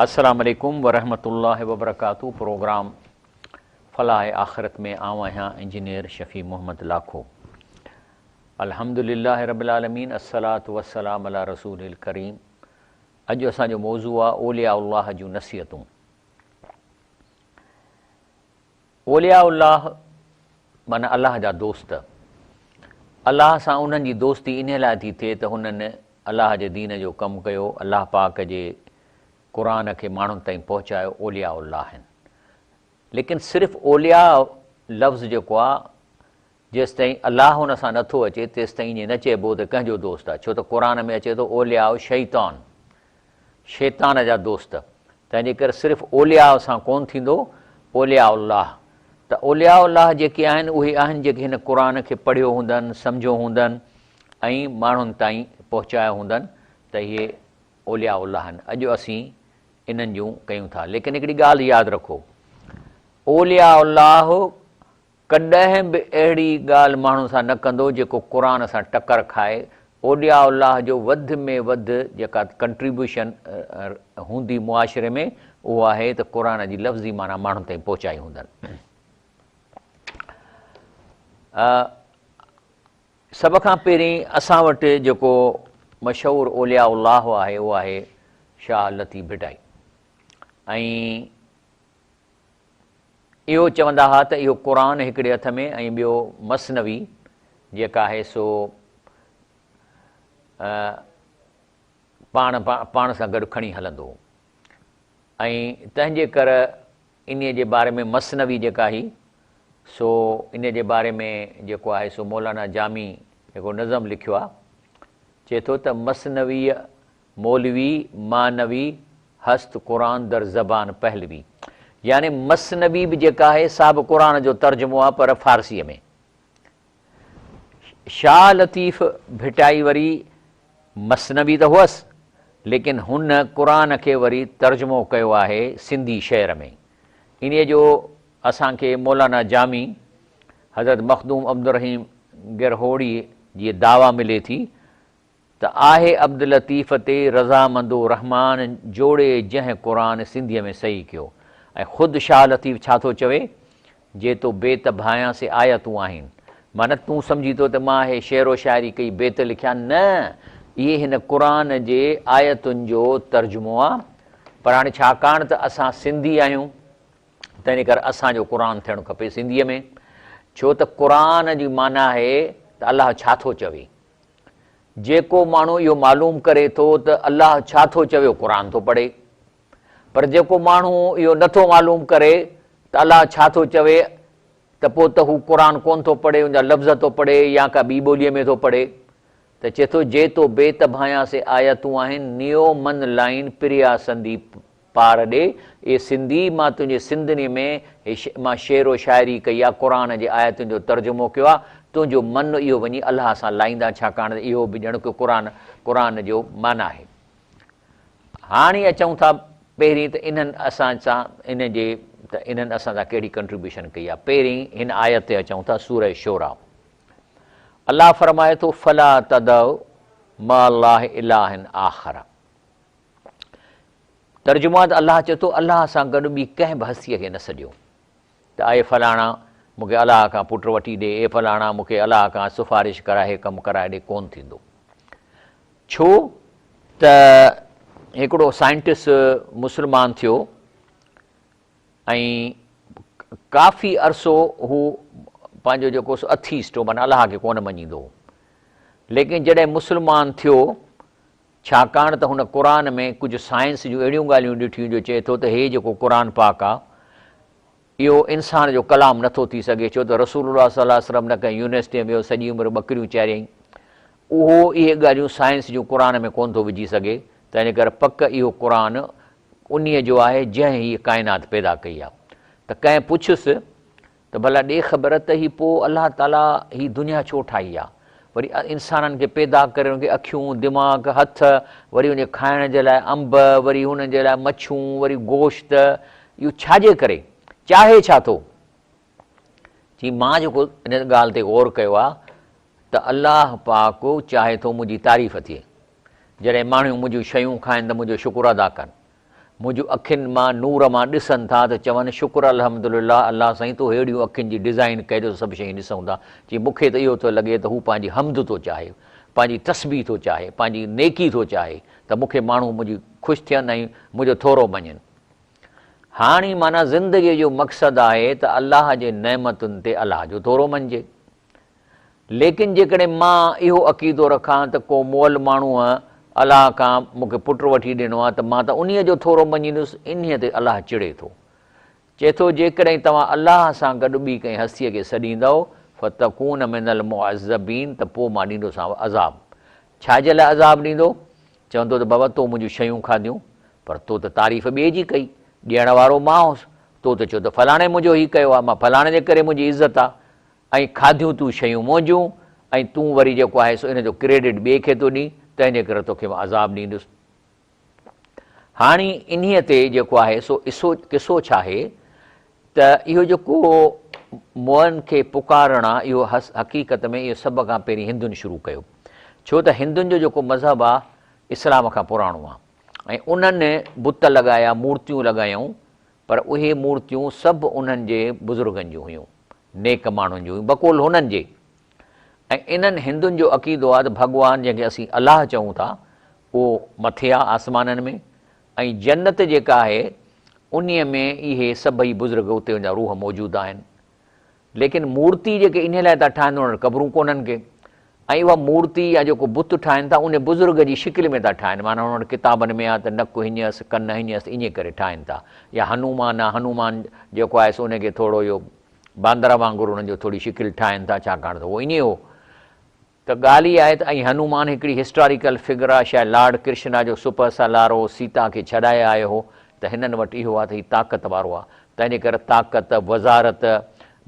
السلام عليڪم ورحمة الله وبرڪاته پروگرام فلاح آخرت ۾ آئون آهيان انجنيئر شفيع محمد لاکو الحمد لله رب العالمين الصلاة والسلام على رسول الڪريم اڄ اسان جو موضوع آ اولياء الله جون نصيحتون اولياء الله معنيٰ الله جا دوست. الله سان انهن جي دوستي انهيء لاء ٿي ٿئي ته هنن الله جي دين جو ڪم ڪيو، الله پاڪ جي قرآن کي ماڻهن تائين پهچايو، اولياء الله آهن. ليڪن صرف اولياء لفظ جيڪو آ جيستائين الله ان سان نه ٿو اچي تيستائين ائين نه چئبو ته ڪنهن جو دوست آهي ڇو ته قرآن ۾ اچي ٿو اولياء شيطان شيطان جا دوست تنهنجي ڪري صرف اولياء سان ڪون ٿيندو اولياء الله ته اولياء الله جيڪي آهن اهي آهن جيڪي هن قرآن کي پڙهيو هوندن سمجهيو هوندن ۽ ماڻهن تائين پهچايو هوندن ته اهي اولياء الله آهن اڄ اسين انهن جون ڪيون ٿا ليڪن هڪڙي ڳالهه ياد رکو اولياء الله ڪڏهن به اهڙي ڳالهه ماڻهو سان نه ڪندو جيڪو قرآن سان ٽڪر کائي، اولياء الله جو وڌ ۾ وڌ جيڪا ڪنٽريبيوشن هوندي معاشري ۾ اهو آهي ته قرآن جي لفظي معنيٰ ماڻهن تائين پهچائي هوندن. سڀ کان پهرين اسان وٽ جيڪو مشهور اولياء الله آهي اهو آهي شاهه لطيف ڀٽائي ۽ اهو چوندا ها ته اهو قرآن هڪڙي هٿ ۾ ۽ ٻيو مثنوي جيڪا آهي سو پاڻ پاڻ سان گڏ کڻي هلندو ۽ تنهنجي ڪر انهيء جي باري ۾ مثنوي جيڪا هي سو انهيء جي باري ۾ جيڪو آهي سو مولانا جامي جيڪو نظم لکيو آهي چئي ٿو ته مثنويء مولوي معنوي هست قرآن در زبان پهلوي يعني مثنوي به جيڪا آهي سا به قرآن جو ترجمو آهي پر فارسيء ۾. شاهه لطيف ڀٽائي وري مثنوي ته هئس ليڪن هن قرآن کي وري ترجمو ڪيو آهي سنڌي شعر ۾. انهيء جو اسان کي مولانا جامي حضرت مخدوم عبدالرحيم گرهوڙيء جي دعويٰ ملي ٿي ته آهي عبداللطيف تي رضامندو الرحمان جوڙي جنهن قرآن سنڌيء ۾ صحيح ڪيو ۽ خود شاهه لطيف ڇا ٿو چوي جي تو بيت ڀانئيان سي آيتون آهين معنيٰ تون سمجهي ٿو ته مان هي شعر و شاعري ڪئي بيت لکيا نه اهي هن قرآن جي آيتن جو ترجمو آ پر هاڻي ڇاڪاڻ ته اسان سنڌي آهيون تنهن ڪري اسان جو قرآن ٿيڻ کپي سنڌيء ۾ ڇو ته قرآن جي معنيٰ آهي ته الله ڇا ٿو چوي. جيڪو ماڻهو اهو معلوم ڪري ٿو ته الله ڇا ٿو چوي قرآن ٿو پڙهي پر جيڪو ماڻهو اهو نه ٿو معلوم ڪري ته الله ڇا ٿو چوي ته پوء ته هو قرآن ڪونه ٿو پڙهي ان جا لفظ ٿو پڙهي يا ڪا ٻي ٻوليء ۾ ٿو پڙهي ته چئي ٿو جي تو بيت ڀانيان سي آيتون آهن نيو من لائين پريا سنديپ پار ڏي، اي سنڌي! مان تنهنجي سنڌني ۾ مان شعر و شاعري ڪئي آ، قرآن جي آيتن جو ترجمو ڪيو آ، تنهنجو من اهو وڃي الله سان لائيندان ڇاڪاڻ ته اهو به ڄڻ ڪو قرآن قرآن جو من آهي. هاڻي اچون ٿا پهرين ته انهن اسان سان ان جي ته انهن اسان سان ڪهڙي ڪنٽريبيوشن ڪئي آ. پهرين هن آيت تي اچون ٿا سورة شعراء الله فرمائي ٿو فلا تدعوا مع الله اله آخر. ترجمو آهي ته الله چئي ٿو، الله سان گڏ ٻي ڪنهن به هستيء کي نه سڏيو ته اي فلاڻا مون کي الله کان پٽ وٺي ڏي، اي فلاڻا مون کي الله کان سفارش ڪرائي ڪم ڪرائي ڏي، ڪونه ٿيندو. ڇو ته هڪڙو سائنٽسٽ مسلمان ٿيو ۽ ڪافي عرصو هو پنهنجو جيڪو سو اٿيسٽ هو معنيٰ الله کي ڪونه مڃيندو هو ليڪن جڏهن مسلمان ٿيو ڇاڪاڻ ته هن قرآن ۾ ڪجهه سائنس جون اهڙيون ڳالهيون ڏٺيون جو چئي ٿو ته هي جيڪو قرآن پاڪ آ اهو انسان جو ڪلام نه ٿو ٿي سگهي ڇو ته رسول الله صلي الله عليه وسلم نه ڪنهن يونيورسٽيء ۾ ويو سڄي عمر ٻڪريون چاريائين اهو اهي ڳالهيون سائنس جون قرآن ۾ ڪونه ٿو وجهي سگهي تنهن ڪري پڪ اهو قرآن انهيء جو آهي جنهن هيء ڪائنات پيدا ڪئي آ ته ڪنهن پڇيس ته ڀلا ڏي خبر ته هي پوء الله تعاليٰ هي دنيا ڇو ٺاهي آ؟ وري انسانن کي پيدا ڪري ان کي اکيون، دماغ، هٿ، وري ان جي کائڻ جي لاء انب، وري انهن جي لاء مڇون، وري گوشت، اهو ڇا جي ڪري؟ چاهي ڇا ٿو؟ چي مان جيڪو ان ڳالهه تي غور ڪيو آ ته الله پاڪ چاهي ٿو منهنجي تعريف ٿئي، جڏهن ماڻهيون منهنجيون شيون کائن ته منهنجو شڪر ادا ڪن، منهنجون اکين مان نور مان ڏسن ٿا ته چون شڪر الحمدلله الله سائين تو ههڙيون اکين جي ڊزائين ڪئي جو سڀ شيون ڏسون ٿا چي مون کي ته اهو ٿو لڳي ته هو پنهنجي حمد ٿو چاهي پنهنجي تسبيح ٿو چاهي پنهنجي نيڪي ٿو چاهي ته مون کي ماڻهو منهنجي خوش ٿين ۽ منهنجو ٿورو مڃين هاڻي معنيٰ زندگي جو مقصد آهي ته الله جي نعمتن تي الله جو ٿورو مڃجي ليڪن جيڪڏهن مان اهو عقيدو رکان ته ڪو مئل ماڻهوء، الله، کان مون کي پٽ وٺي ڏنو آهي ته مان ته انهيء جو ٿورو مڃيندس، انهيء تي الله چڙي ٿو. چئي ٿو، جيڪڏهن توهان الله سان گڏ ٻي ڪنهن هستيء کي سڏيندؤ، فتڪون من المعذبين، ته پوء مان ڏيندوسانو عذاب. ڇاجي لاء عذاب ڏيندو؟ چوندو ته بابا تو منهنجون شيون کاڌيون، پر تو ته تعريف ٻئي جي ڪئي، ڏيڻ وارو مان هوس، تو ته چيو ته فلاڻي منهنجو هي ڪيو آهي، مان فلاڻي جي ڪري منهنجي عزت آهي، ۽ کاڌيون تون شيون منهنجون ۽ تون وري جيڪو آهي سو ان جو ڪريڊٽ ٻئي کي ٿو ڏين تنهنجي ڪري توکي مان عذاب ڏيندس. هاڻي انهيء تي جيڪو آهي سو اسو قصو ڇا آهي ته اهو جيڪو موئن کي پڪارڻ آ اهو حقيقت ۾ اهو سڀ کان پهرين هندن شروع ڪيو ڇو ته هندن جو جيڪو مذهب آ اسلام کان پراڻو آ ۽ انهن بت لڳايا مورتيون لڳايائون پر اهي مورتيون سڀ انهن جي بزرگن جون هيون، نيڪ ماڻهن جون هيون، بقول هنن جي. ۽ انهن هندن جو عقيدو آهي ته ڀڳوان جنهن کي اسين الله چئون ٿا، اهو مٿي آهي آسمانن ۾ ۽ جنت جيڪا آهي، انهيء ۾ اهي سڀئي بزرگ اتي جا روح موجود آهن. ليڪن مورتي جيڪي انهي لاء ٿا ٺاهن انهن وٽ قبرون ڪونهن ڪي ۽ اها مورتي يا جيڪو بت ٺاهن ٿا انهي بزرگ جي شڪل ۾ ٿا ٺاهن معنيٰ انهن وٽ ڪتابن ۾ آهي ته نڪ هينئين اٿس ڪن هينئين اٿس انهي ڪري ٺاهن ٿا يا هنومان آهي هنومان جيڪو آهي سو انهي کي ٿورو اهو باندر وانگر انهن جو ٿوري شڪل ٺاهن ٿا ڇاڪاڻ ته اهو انهي هو ته ڳالهه اها آهي ته ائين هنومان هڪڙي هسٽاريڪل فگر آهي شايد لارڊ ڪرشنا جو سپهه سالار هو سيتا کي ڇڏائي آيو هو ته هنن وٽ اهو آهي ته هي طاقت وارو آهي تنهنجي ڪري طاقت وزارت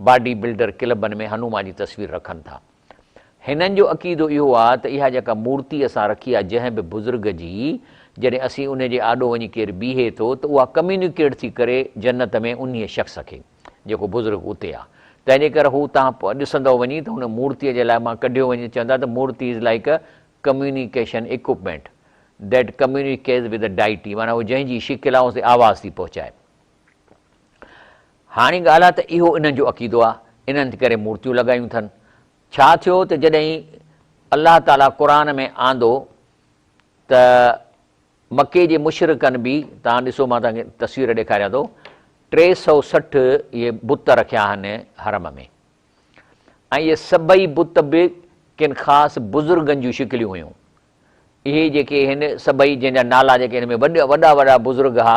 باڊي بلڊر ڪلبن ۾ هنومان جي تصوير رکن ٿا هنن جو عقيدو اهو آهي ته اها جيڪا مورتي اسان رکي آهي جنهن به بزرگ جي جڏهن اسين انهي جي آڏو وڃي ڪير بيهي ٿو ته اها ڪميونيڪيٽ ٿي ڪري جنت ۾ انهي شخص کي. جيڪو بزرگ اتي آ. تنهنجي ڪري هو تان ڏسندؤ وڃي ته هن مورتيء جي لاء مان ڪڍيو وڃي چوندا ته murti is like a communication equipment that communicates with the deity معنيٰ هو جنهن جي شڪل آ ان تي آواز ٿي پهچائي. هاڻي ڳالهه آ ته اهو انهن جو عقيدو آ انهن ڪري مورتيون لڳايون ٿن. ڇا ٿيو ته جڏهن الله تعاليٰ قرآن ۾ آندو ته مڪي جي مشرڪن به توهان ڏسو مان توهان کي تصوير ڏيکاريان ٿو ٽي سؤ سٺ اهي بت رکيا آهن حرم ۾ ۽ اهي سڀئي بت به ڪن خاص بزرگن جون شڪليون هيون اهي جيڪي هن سڀئي جن جا نالا جيڪي هن ۾ وڏا وڏا وڏا بزرگ ها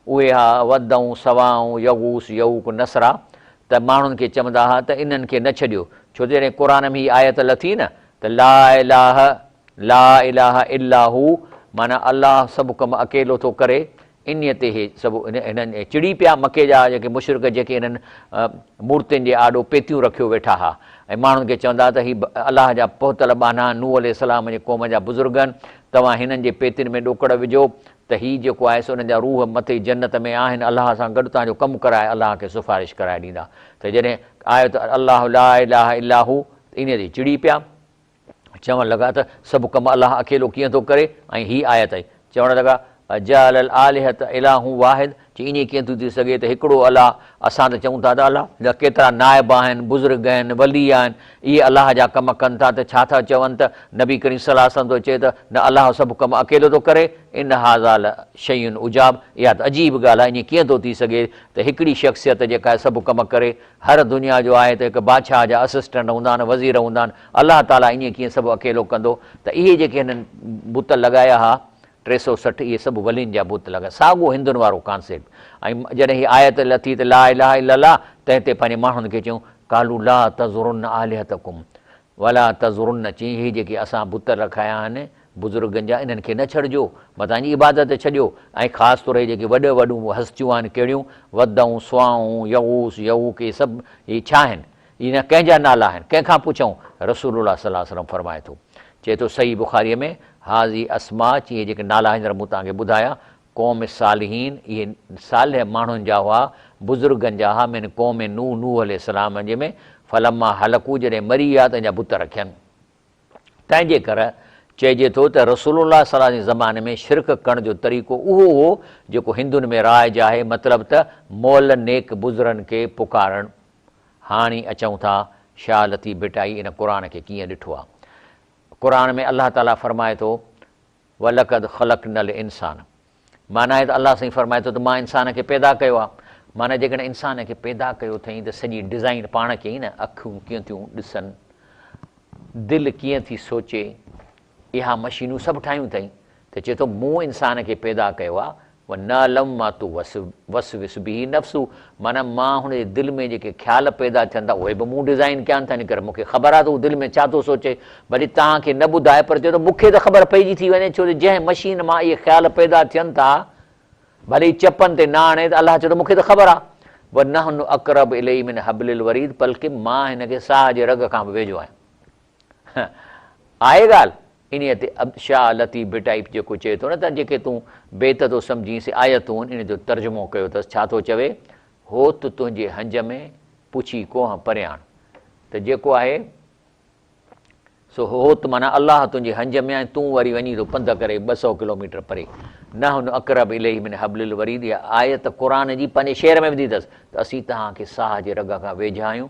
اهي ها ود ۽ سوا ۽ يغوث يعوق نصرا ته ماڻهن کي چوندا ها ته انهن کي نه ڇڏيو ڇو ته جڏهن قرآن ۾ هي آيت لٿي نه ته لا اله لا اله الا هو معنيٰ الله سڀ ڪم اڪيلو ٿو ڪري. انهيء تي هي سڀ هنن چڙي پيا، مڪي جا جيڪي مشرڪ جيڪي انهن مورتين جي آڏو پيتيون رکيو ويٺا ها ۽ ماڻهن کي چوندا ها ته هي الله جا پهتل ٻانها، نوح عليه السلام جي قوم جا بزرگن، توهان هنن جي پيتين ۾ ڏوڪڙ وجهو ته هي جيڪو آهي سو انهن جا روح مٿي جنت ۾ آهن الله سان گڏ تنهنجو ڪم ڪرائي الله کي سفارش ڪرائي ڏيندا ته جڏهن آيو ته الله لا اله الا هو ته انهيء تي چڙي پيا. چوڻ لڳا ته سڀ ڪم الله اڪيلو ڪيئن ٿو ڪري ۽ هي آيت آهي. چوڻ لڳا، اجعل الاٰلهة الاٰه واحد، چي ائين ڪيئن ٿو ٿي سگهي ته هڪڙو الله، اسان ته چئون ٿا ته الله جا ڪيترا نائب آهن، بزرگ آهن، ولي آهن، اهي الله جا ڪم ڪن ٿا ته ڇا ٿا چون ته نبي ڪريم صلي الله عليه وسلم ٿو چئي ته نه الله سڀ ڪم اڪيلو ٿو ڪري، ان هٰذا لشيء عجاب، اها ته عجيب ڳالهه آهي، ائين ڪيئن ٿو ٿي سگهي ته هڪڙي شخصيت جيڪا سڀ ڪم ڪري هر دنيا جو آهي ته هڪ بادشاهه جا اسسٽنٽ هوندا آهن وزير هوندا آهن الله تعالي ائين ڪيئن سڀ اڪيلو ڪندو ته اهي جيڪي هنن بت لڳايا ها ٽي سؤ سٺ اهي سڀ ولين جا بت لڳا ساڳو هندن وارو ڪانسيپٽ ۽ جڏهن هي آيت لٿي ته لا اله الا الله تنهن تي پنهنجي ماڻهن کي چيون قالو لا تذرن الهتکم ولا تذرن چين هي جيڪي اسان بت رکايا آهن بزرگن جا انهن کي نه ڇڏجو، متان جي عبادت ڇڏيو ۽ خاص طور هي جيڪي وڏ وڏون هستيون آهن ڪهڙيون، ودّون، سواعون، يغوث، يعوق اهي سڀ اهي ڇا آهن؟ اهي نه ڪنهن جا نالا آهن، ڪنهن کان پڇئون؟ رسول الله صلّي الله عليه وسلّم فرمائي ٿو، چئي ٿو صحيح بخاريء ۾، هٰذي اسماء چي اهي جيڪي نالا هن طرح مون توهان کي ٻڌايا، قوم الصّالحين اهي صالح ماڻهن جا هئا، بزرگن جا هئا، من قوم نوح نوح عليه السّلام جي ۾، فلمّا هلڪوا جڏهن مري ويا ته ان جا بت رکين. تنهن جي ڪري چئجي ٿو ته رسول الله صلعه جي زماني ۾ شرڪ ڪرڻ جو طريقو اهو هو جيڪو هندن ۾ رائج آهي مطلب ته مئل نيڪ بزرن کي پڪارڻ هاڻي اچون ٿا شاهه لطيف ڀٽائي ان قرآن کي ڪيئن ڏٺو آهي قرآن ۾ الله تعالي فرمائي ٿو ولقد خلقنا الانسان. معنيٰ آهي ته الله سائين فرمائي ٿو ته مان انسان کي پيدا ڪيو آهي. معنيٰ جيڪڏهن انسان کي پيدا ڪيو اٿئين ته سڄي ڊزائين پاڻ ڪيئي نه، اکيون ڪيئن ٿيون ڏسن، دل ڪيئن ٿي سوچي، اها مشينون سڀ ٺاهيون اٿئين ته چئي ٿو مون انسان کي پيدا ڪيو آهي، ونعلم ما توسوس به نفسه، معنيٰ مان هن جي دل ۾ جيڪي خيال پيدا ٿين ٿا اهي به مون ڊزائين ڪيا آهن تنهن ڪري مون کي خبر آهي ته هو دل ۾ ڇا ٿو سوچي ڀلي توهان کي نه ٻڌائي پر چوٿو مون کي ته خبر پئجي ٿي وڃي ڇو جو جنهن مشين مان اهي خيال پيدا ٿين ٿا ڀلي ئي چپن تي نه آڻي ته الله چوٿو مون کي ته خبر آهي ونحن اقرب اليه من حبل الوريد بلڪه مان هن کي ساهه جي رڳ کان به ويجهو آهيان آهي ڳالهه. انهيء تي عبد شاهه لطيف ڀٽائي جيڪو چئي ٿو نه ته جيڪي تون بيت ٿو سمجهين سي آيتون ان جو ترجمو ڪيو اٿس ڇا ٿو چوي هوت تنهنجي هنج ۾ پڇي ڪونهن پريان ته جيڪو آهي سو هوت معنيٰ الله تنهنجي هنج ۾ ۽ تون وري وڃين ٿو پنڌ ڪري ٻه سؤ ڪلوميٽر پري نحن اقرب اليه من حبل الوريد اها آيت قرآن جي پنهنجي شعر ۾ وڌي اٿس ته اسين توهان کي ساهه جي رڳ کان ويجها آهيون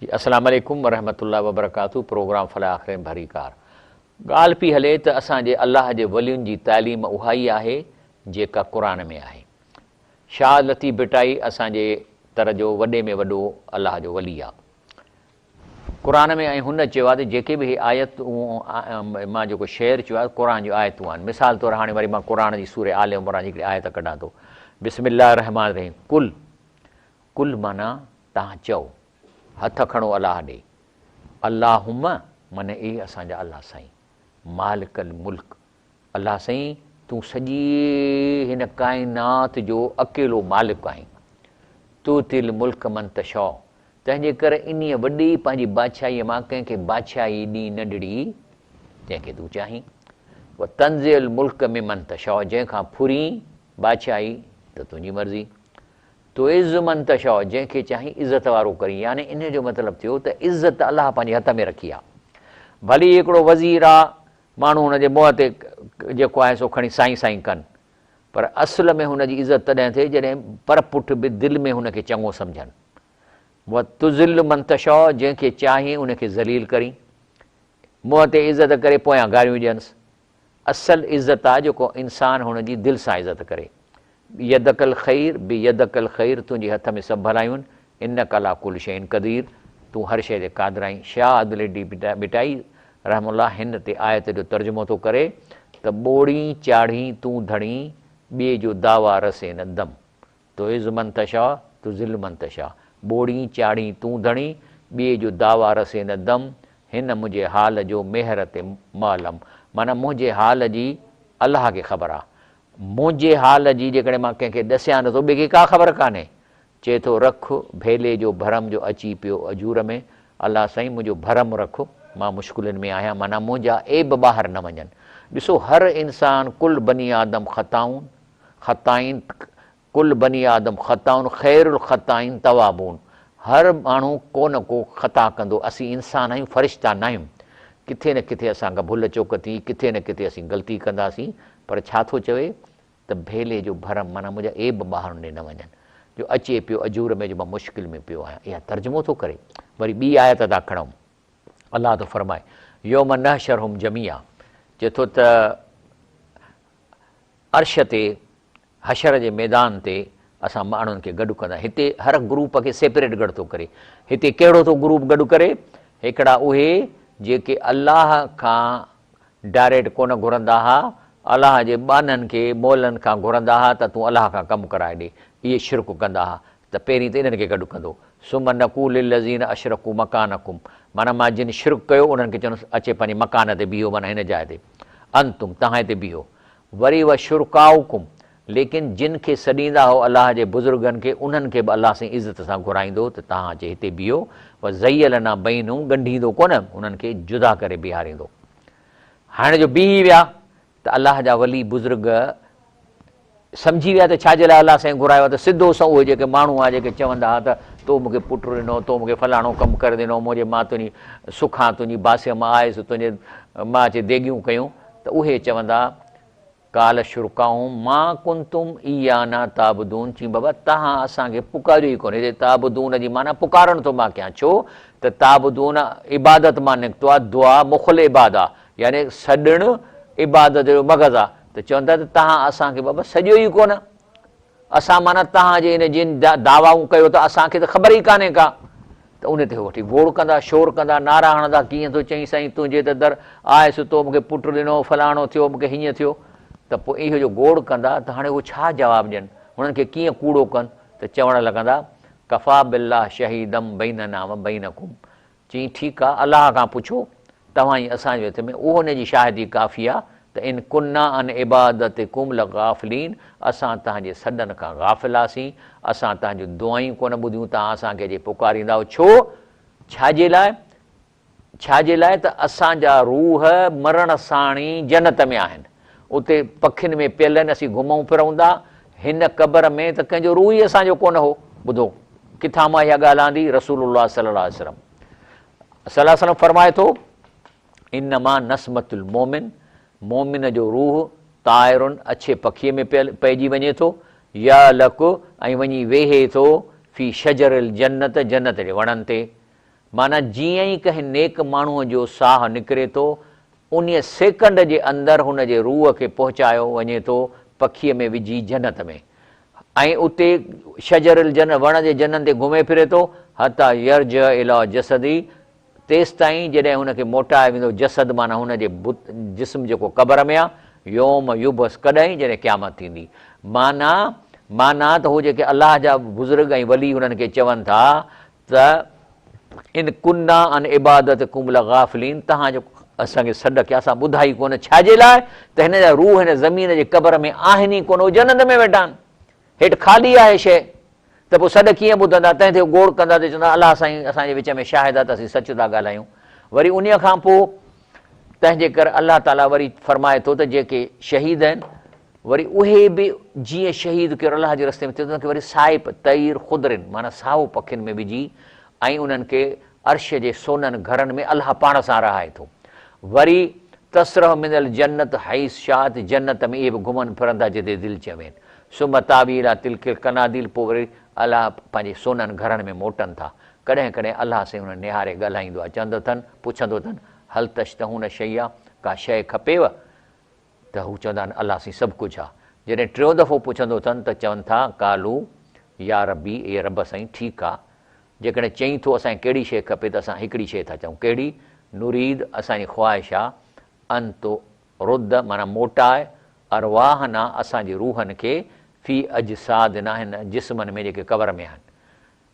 جي اسلام عليڪم ورحمت الله وبرڪاته پروگرام فلا آخرين ڀري ڪار ڳالهه پي هلي ته اسان جي الله جي ولين جي تعليم اها ئي آهي جيڪا قرآن ۾ آهي شاهه لطيف ڀٽائي اسان جي تر جو وڏي ۾ وڏو الله جو ولي آ قرآن ۾ ۽ هن چيو آهي ته جيڪي به هي آيتون مان جيڪو شعر چيو آهي قرآن جون آيتون آهن مثال طور هاڻي وري مان قرآن جي سورة آل عمران جي هڪڙي آيت ڪڍان ٿو بسم الله الرحمٰن الرحيم قل قل معنيٰ توهان چئو هٿ کڻو الله ڏي اللهم معنيٰ اي اسان جا الله سائين مالڪ الملڪ الله سائين تون سڄي هن ڪائنات جو اڪيلو مالڪ آهين. تؤتي الملڪ من تشاء تنهنجي ڪري انهيء وڏي پنهنجي بادشاهيء مان ڪنهن کي بادشاهي ڏين نه ڏڙي جنهن کي تون چاهين. وتنزع الملڪ ممن تشاء جنهن کان ڦرين بادشاهي ته تنهنجي مرضي. تعز من تشاء جنهن کي چاهين عزت وارو ڪرين يعني انهيء جو مطلب ٿيو ته عزت الله پنهنجي هٿ ۾ رکي آهي. ڀلي هڪڙو وزير آ ماڻهو هن جي منهن تي جيڪو آهي سو کڻي سائين سائين ڪن، پر اصل ۾ هن جي عزت تڏهن ٿئي جڏهن پر پٺ به دل ۾ هن کي چڱو سمجهن. وتذل من تشاء جنهن کي چاهين ان کي ذليل ڪرين. منهن تي عزت ڪري پويان گاريون ڏينس. اصل عزت آ جيڪو انسان هن جي دل سان عزت ڪري. يدک الخير بيدک الخير تنهنجي هٿ ۾ سڀ ڀلائيون انک علي ڪل شيء قدير تون هر شيء تي قادر آهين شاهه عدليڊي ڀٽائي رحمه الله هن تي آيت جو ترجمو ٿو ڪري ته ٻوڙين چاڙهين تون ڌڻين ٻئي جو دعويٰ رسي نه دم تعز من تشاء تذل من تشاء ٻوڙين چاڙهين تون ڌڻين ٻئي جو دعويٰ رسي نه دم هن منهنجي حال جو ميهر تي معلم معنيٰ منهنجي حال جي الله کي خبر آ منهنجي حال جي جيڪڏهن مان ڪنهن کي ڏسيان نه ٿو ٻئي کي ڪا خبر ڪانهي. چئي ٿو رک ڀيلي جو ڀرم جو اچي پيو اجور ۾ الله سائين منهنجو ڀرم رک مان مشڪلين ۾ آهيان معنيٰ منهنجا عيب ٻاهر نه وڃن ڏسو هر انسان ڪل بني آدم خطائون خطائين ڪل بني آدم خطاؤن خير الخطائين توابون هر ماڻهو ڪو نه ڪو خطا ڪندو اسين انسان آهيون فرشتا ناهيون ڪٿي نه ڪٿي اسان کان ڀل چوڪ ٿي ڪٿي نه ڪٿي اسين غلطي ڪنداسين پر ڇا ٿو چوي ته ڀيلي جو ڀرم معنيٰ منهنجا عيب ٻاهر نه نه وڃن جو اچي پيو اجور ۾ جو مان مشڪل ۾ پيو آهيان اها ترجمو ٿو ڪري وري ٻي آيت ادا کڻئون الله ٿو فرمائي يوم نحشرهم جميعا چئي ٿو ته عرش تي حشر جي ميدان تي اسان ماڻهن کي گڏ ڪندا. هتي هر گروپ کي سيپريٽ گڏ ٿو ڪري. هتي ڪهڙو ٿو گروپ گڏ ڪري؟ هڪڙا اهي جيڪي الله کان ڊائريڪٽ ڪونه گهرندا ها، الله جي ٻانهن کي مولن کان گهرندا ها ته تون الله کان ڪم ڪرائي ڏي. اهي شرڪ ڪندا ها ته پهرين ته انهن کي گڏ ڪندو. ثم نقول للذين اشرڪوا مڪانڪم معنيٰ مان جن شرڪ ڪيو انهن کي چوندس اچي پنهنجي مڪان تي بيهو معنيٰ هن جاء تي. انتم تهان هتي بيهو. وري و شرڪاءکم، ليڪن جن کي سڏيندا هئو الله جي بزرگن کي انهن کي به الله سائين عزت سان گهرائيندو هو ته تهان اچي هتي بيهو و زيلنا بينهم ڳنڍيندو ڪونه انهن کي جدا ڪري بيهاريندو هائڻ جو بيهي ويا ته الله جا ولي بزرگ سمجهي ويا ته ڇا جي لاء الله سائين گهرايو ته سڌو سنئون اهي جيڪي ماڻهو هئا جيڪي چوندا هئا ته تو مون کي پٽ ڏنو تو مون کي فلاڻو ڪم ڪري ڏنو منهنجي مان تنهنجي سکان تنهنجي باسيء مان آيس تنهنجي مان اچي ديڳيون ڪيون ته اهي چوندا، قال شرڪاؤهم ما ڪنتم ايانا تعبدون، چين بابا توهان اسان کي پڪاريو ئي ڪونهي، هتي تعبدون جي معنيٰ پڪارڻ ٿو مان ڪيان، ڇو ته تعبدون عبادت مان نڪتو آهي، دعا مخ العباد آهي، يعني سڏڻ عبادت جو مغز آهي، ته چون ٿا ته توهان اسان کي بابا سڏيو ئي ڪونه. اسان معنيٰ توهان جي ان جن دعوائون ڪيو ٿا اسان کي ته خبر ئي ڪانهي ڪا ته ان تي هو وٺي گوڙ ڪندا شور ڪندا نعرا هڻندا ڪيئن ٿو چئين سائين تنهنجي ته در آء ستو مون کي پٽ ڏنو فلاڻو ٿيو مون کي هيئن ٿيو ته پوء اهو جو گوڙ ڪندا ته هاڻي هو ڇا جواب ڏين هنن کي ڪيئن ڪوڙو ڪن ته چوڻ لڳندا ڪفا بالله شهيدم بيننا وبينڪم چيائين، ٺيڪ آ، الله کان پڇو، توهان ۽ اسان جي وچ ۾ اهو ان جي شاهدي ڪافي آ ته ان ڪنا عن عبادتڪم لغافلين، اسان توهان جي سڏن کان غافل هئاسين، اسان توهان جون دعائون ڪونه ٻڌيون، توهان اسان کي جي پڪاريندا هئو، ڇو؟ ڇا جي لاء؟ ڇا جي لاء ته اسان جا روح مرڻ ساڻي جنت ۾ آهن. اتي پکين ۾ پيل آهن، اسين گهمون ڦرون ٿا، هن قبر ۾ ته ڪنهن جو روح ئي اسان جو ڪونه هو، ٻڌو ڪٿان مان اها ڳالهه آندي، رسول الله صلي الله عليه وسلم صلي الله عليه وسلم فرمائي ٿو، انما نسمة المومن، مومن جو روح طائر اڇي پکيء ۾ پئجي وڃي ٿو، يعلق ۽ وڃي ويهي ٿو في شجر الجنة جنت جي وڻن تي، معنيٰ جيئن ئي ڪنهن نيڪ ماڻهوء جو ساهه نڪري ٿو، انهيء سيڪنڊ جي اندر هن جي روح کي پهچايو وڃي ٿو پکيء ۾ وجهي جنت ۾، ۽ اتي شجر الجنة، وڻ جي جنن تي گهمي ڦري ٿو، حتيٰ يرجع اليٰ جسده، تيستائين جڏهن هن کي موٽايو ويندو، جسد معنيٰ هن جي جسم جيڪو قبر ۾ آ، يوم يبعث، ڪڏهن، جڏهن قيامت ٿيندي. معنيٰ، معنيٰ ته هو جيڪي الله جا بزرگ ۽ ولي هنن کي چون ٿا ته ان ڪنا عن عبادتڪم لغافلين تهان جو اسان کي سڏ ڪيا اسان ٻڌائي ڪونه ڇا جي لاء ته هن جا روح هن زمين جي قبر ۾ آهن ئي ڪونه هو جنت ۾ ويٺا آهن هيٺ خالي آهي شيء ته پوء سڏ ڪيئن ٻڌندا تنهن تي هو گوڙ ڪندا ته چوندا الا سائين اسان جي وچ ۾ شاهد آهي ته اسين سچ ٿا ڳالهايون وري انهيء کان پوء تنهنجي ڪري الله تعالي وري فرمائي ٿو ته جيڪي شهيد آهن وري اهي به جيئن شهيد ڪيو الله جي رستي ۾ ٿيو ته انهن کي وري سائپ طير خضرن معنيٰ سائو پکين ۾ وجهي ۽ انهن کي عرش جي سونهن گهرن ۾ الله پاڻ سان رهائي ٿو وري تسرح من الجنت حيث شاءت جنت ۾ اهي به گهمن ڦرن ٿا جتي دل چوين ثم تاوي الي تلڪ القناديل پوء وري الله پنهنجي سونهن گهرن ۾ موٽن ٿا ڪڏهن ڪڏهن الله سائين هنن نهاري ڳالهائيندو آهي، چوندو اٿن، پڇندو اٿن، هل تشتهون شيئا، ڪا شيء کپيو؟ ته هو چوندا آهن، الله سائين سڀ ڪجهه آ. جڏهن ٽيون دفعو پڇندو اٿن ته چون ٿا، قالو يا ربي، اي رب سائين ٺيڪ آ، جيڪڏهن چئين ٿو اسان کي ڪهڙي شيء کپي ته اسان هڪڙي شيء ٿا چئون، ڪهڙي؟ نريد، اسان جي خواهش آ، ان ترد، معنيٰ موٽاء، ارواحنا، اسان جي روحن کي، في اجسادنا، هن جسمن ۾، جيڪي قبر ۾ آهن.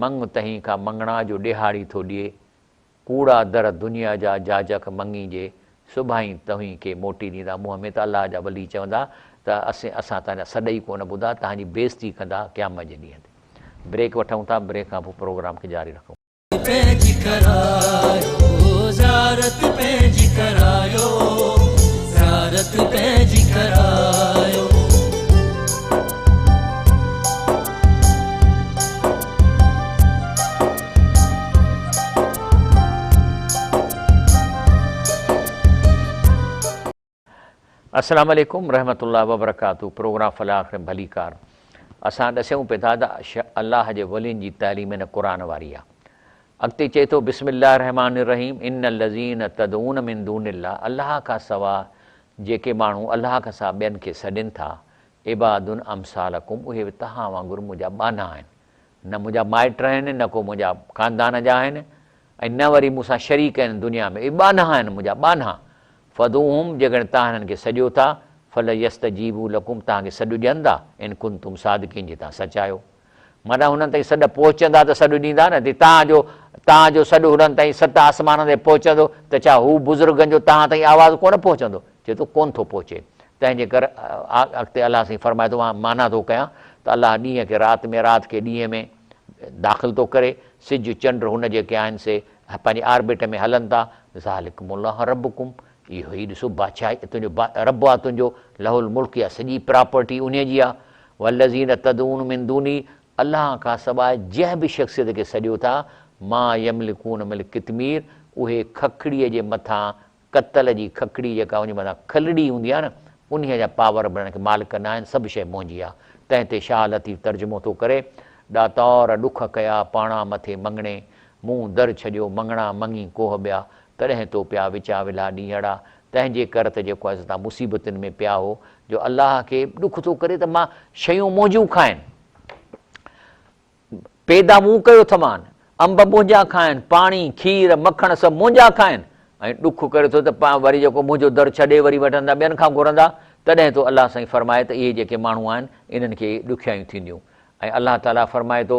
مڱ تهين کان مڱڻا جو ڏيهاڙي ٿو ڏئي، ڪوڙا در دنيا جا جاجڪ مڱي جي سڀائين توهين کي موٽي ڏيندا منهن ۾ ته الله جا ولي چوندا ته اسين اسان تنهنجا سڏ ئي ڪونه ٻڌا تنهنجي بيعزتي ڪندا قيامت جي ڏينهن تي بريڪ وٺون ٿا بريڪ کان پوء پروگرام کي جاري رکون پنهنجي ڪرايو زيارت پنهنجي ڪرايو زيارت پنهنجي ڪرايو. السلام عليڪم رحمت الله وبرڪاته پروگرام فلاح آخر ڀلي ڪار اسان ڏسيون پيدا ته الله جي ولين جي تعليم هن قرآن واري آ اڳتي چئي ٿو بسم الله الرحمٰن الرحيم ان الذين تدعون من دون الله الله کان سوا جيڪي ماڻهو الله کان سوا ٻين کي سڏين ٿا عباد امثالکم اهي به توهان وانگر منهنجا ٻانها آهن، نه منهنجا مائٽ آهن، نه ڪو منهنجا خاندان جا آهن ۽ نه وري مون سان شريڪ آهن دنيا ۾، اهي ٻانها آهن منهنجا ٻانها، فادعوهم جيڪڏهن توهان هنن کي سڏيو ٿا، فليستجيبوا لڪم توهان کي سڏ ڏين ٿا، ان ڪنتم صادقين جي توهان سچ آهيو. معنيٰ هنن تائين سڏ پهچندا ته سڏ ڏيندا نه ته تان جو تان جو سڏ هنن تائين ست آسمانن تي پهچندو ته ڇا هو بزرگن جو تان تائين آواز ڪونه پهچندو؟ چئي ٿو ڪونه ٿو پهچي تنهنجي ڪر اڳتي الله سائين فرمائي ٿو مان معنيٰ ٿو ڪيان ته الله ڏينهن کي رات ۾ رات کي ڏينهن ۾ داخل ٿو ڪري سج چنڊ هن جيڪي آهن سي پنهنجي آربٽ ۾ هلن ٿا ذالڪم الله ربڪم اهو ئي ڏسو بادشاهي ته تنهنجو رب آ تنهنجو، له الملڪ اها سڄي پراپرٽي انهي جي آ، والذين تدعون من دونه الله کان سواء جنهن به شخصيت کي سڏيو ٿا، ما يملڪون مل قطمير اهي ککڙيء جي مٿان ڪتل جي ککڙي جيڪا ان جي مٿان کلڙي هوندي آ نه انهي جا پاور به انهن کي مالڪ نه آهن سڀ شيء منهنجي آ تنهن تي شاهه لطيف ترجمو ٿو ڪري ڏاتار ڏک ڪيا پاڻان مٿي مڱڻي مون در ڇڏيو مڱڻا مڱي ڪوهه ٻيا تڏهن تو پيا وچان ولها ڏينهڙا، تنهنجي ڪر ته جيڪو اسان تان مصيبتن ۾ پيا هو، جو الله کي ڏک ٿو ڪري ته مان شيون منهنجون کائن، پيدا مون ڪيو اٿمان، انب منهنجا کائن، پاڻي، کير، مکڻ سڀ منهنجا کائن، ۽ ڏک ڪري ٿو ته وري جيڪو منهنجو در ڇڏي وري وٺندا ٻين کان گهرندا، تڏهن تو الله سائين فرماء ته اهي جيڪي ماڻهو آهن، انهن کي ڏکيائيون ٿينديون، ۽ الله تعاليٰ فرمائي ٿو.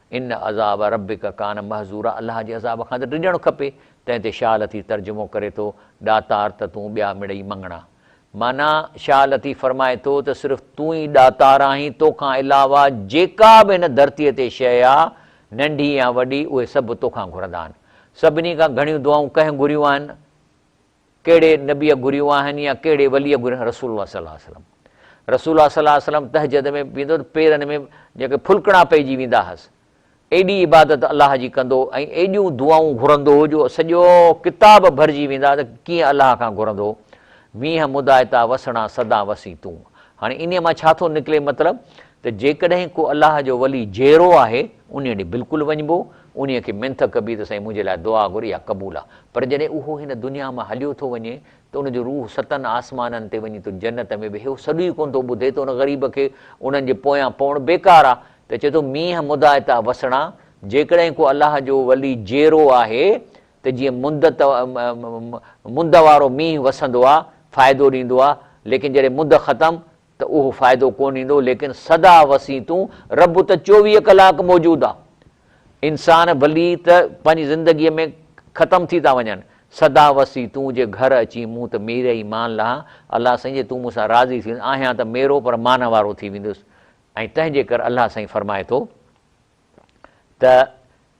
ان عذاب ربک ڪان محذورا الله جي عذاب کان ته ڊڄڻ کپي. تنهن تي شاهه لطيف ترجمو ڪري ٿو، ڏاتار ته تون ٻيا مڙئي مڱڻا. معنيٰ، شاهه لطيف فرمائي ٿو ته صرف تون ئي ڏاتار آهين، تو کان علاوه جيڪا به هن ڌرتيء تي شيء آ، ننڍي يا وڏي، اهي سڀ تو کان گهرندا آهن. سڀني کان گهڻيون دعائون ڪنهن گهريون آهن؟ ڪهڙي نبيء گهريون آهن يا ڪهڙي وليء گهريون آهن رسول الله صلي الله عليه وسلم رسول الله صلي الله عليه وسلم تهجد ۾ ويندو ته پيرن ۾ جيڪي ڦلڪڻا پئجي ويندا هئس ايڏي عبادت الله جي ڪندو ۽ ايڏيون دعائون گهرندو هو جو سڄو ڪتاب ڀرجي ويندا ته ڪيئن الله کان گهرندو هو وينهن مدائتا وسڻا سدا وسين تون هاڻي انهيء مان ڇا ٿو نڪلي مطلب ته جيڪڏهن ڪو الله جو ولي جيئرو آهي، انهيء ڏي بلڪل وڃبو، انهيء کي منٿ ڪبي ته سائين منهنجي لاء دعا گهر اها قبول آ، پر جڏهن اهو هن دنيا مان هليو ٿو وڃي ته ان جو روح ستن آسمانن تي وڃي ٿو جنت ۾ ويهي اهو سڏ ئي ڪونه ٿو ٻڌي ته ان غريب کي انهن جي پويان پوڻ بيڪار آ ته چئي ٿو مينهن مدائتا وسڻا جيڪڏهن ڪو الله جو ولي جيئرو آهي ته جيئن مند مند وارو مينهن وسندو آ فائدو ڏيندو آ ليڪن جڏهن مند ختم ته اهو فائدو ڪونه ڏيندو ليڪن سدا وسيع تون رب ته چوويهه ڪلاڪ موجود آ انسان ڀلي ته پنهنجي زندگي ۾ ختم ٿي ٿا وڃن سدا وسيع تون جي گهر اچين مون ته ميري ئي مان لهان الله سائين جي تون مون سان راضي ٿي وڃ آهيان ته ميرو پر مان وارو ٿي ويندس ۽ تنهنجي ڪر الله سائين فرمائي ٿو ته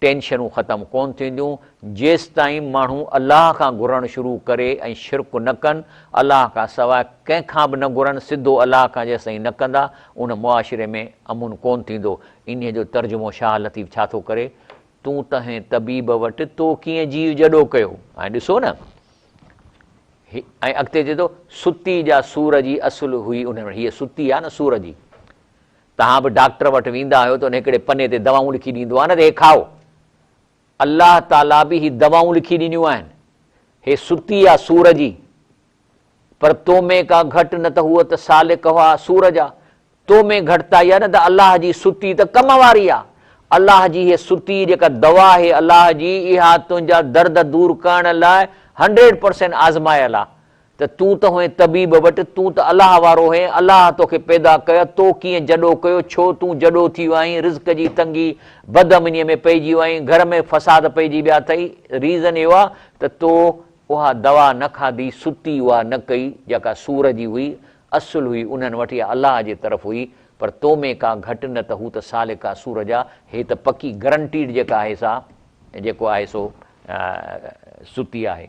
ٽينشنون ختم ڪون ٿينديون جيستائين ماڻهو الله کان گهرڻ شروع ڪري ۽ شرڪ نه ڪن، الله کان سواء ڪنهن کان به نه گهرن، سڌو الله کان جيستائين نه ڪندا ان معاشري ۾ امن ڪون ٿيندو. انهيء جو ترجمو شاهه لطيف ڇا ٿو ڪري، تون تنهين طبيب وٽ تو ڪيئن جيء جڏو ڪيو؟ ۽ ڏسو نه هي ۽ اڳتي چئي ٿو، ستي جا سور جي اصل هئي انهن وٽ، هيء ستي آهي نه سور جي. توهان به ڊاڪٽر وٽ ويندا آهيو ته ان هڪڙي پني تي دوائون لکي ڏيندو آهي نه ته هي کائو. الله تعاليٰ به هي دوائون لکي ڏنيون آهن. هي ستي آهي سور جي. پر تو ۾ ڪا گهٽ نه ته هوء ته سالڪها سور جا. تو ۾ گهٽتائي آهي نه ته الله جي ستي ته ڪم واري آهي. الله جي هي ستي جيڪا دوا آهي الله جي اها تنهنجا درد دور ڪرڻ لاء هنڊريڊ پرسينٽ آزمايل آهي. ته تون ته هئين طبيب وٽ، تون ته الله وارو هئين، الله توکي پيدا ڪيو، تو ڪيئن جڏو ڪيو، ڇو تون جڏو ٿي ويو آهين، رزق جي تنگي، بد امنيء ۾ پئجي ويو آهين، گهر ۾ فساد پئجي ويا اٿئي، ريزن اهو آهي ته تو اها دوا نه کاڌي، ستي اها نه ڪئي، جيڪا سور جي هئي، اصل هئي انهن وٽ يا الله جي طرف هئي، پر تو ۾ ڪا گهٽ نه ته هو ته سالڪ آهي سور جا، هي ته پڪي گرنٽيڊ جيڪا آهي سا جيڪو آهي سو ستي آهي.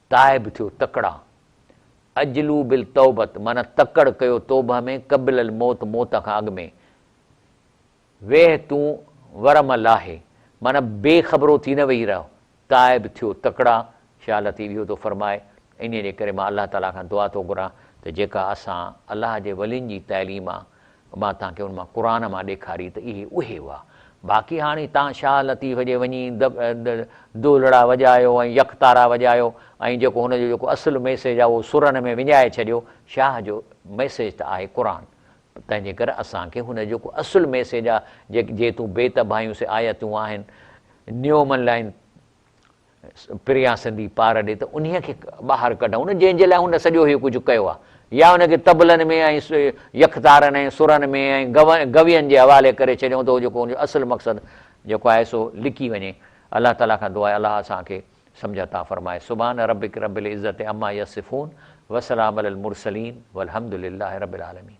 تائب ٿيو تڪڙا عجلو بالتوبت معنيٰ تڪڙ ڪيو توبه ۾ قبل الموت موت کان اڳ ۾ ويهه تون ورم لاهي معنيٰ بي خبرو ٿي نه ويهي رهه تائب ٿيو تڪڙا شاهه لطيف اهو ٿو فرمائي انهيء جي ڪري مان الله تعاليٰ کان دعا ٿو گهران ته جيڪا اسان الله جي ولين جي تعليم آ مان تهان کي ان مان قرآن مان ڏيکاري ته اهي اهي هئا. باقي هاڻي تهان شاهه لطيف جي وڃي دولڙا وڄايو ۽ يڪ تارا وڄايو ۽ جيڪو هن جو جيڪو اصل ميسيج آهي اهو سرن ۾ وڃائي ڇڏيو. شاهه جو ميسيج ته آهي قرآن. تنهنجي ڪري اسان کي هن جو جيڪو اصل ميسيج آهي جي تون بيت ڀايون سي آيتون آهن نيو من لائن پريان سندي پار ڏي ته انهيء کي ٻاهر ڪڍئون جنهن جي لاء هن سڄو هيء ڪجهه ڪيو آهي يا ان کي طبلن ۾ ۽ يڪتارن ۽ سرن ۾ ۽ گوين جي حوالي ڪري ڇڏيون ته جيڪو ان جو اصل مقصد جيڪو آهي سو لڪي وڃي الله تعاليٰ کان دعا آهي الله اسان کي سمجهه عطا فرمائي سبحان ربک رب العزة عما يصفون وسلام علي المرسلين والحمد لله رب العالمين.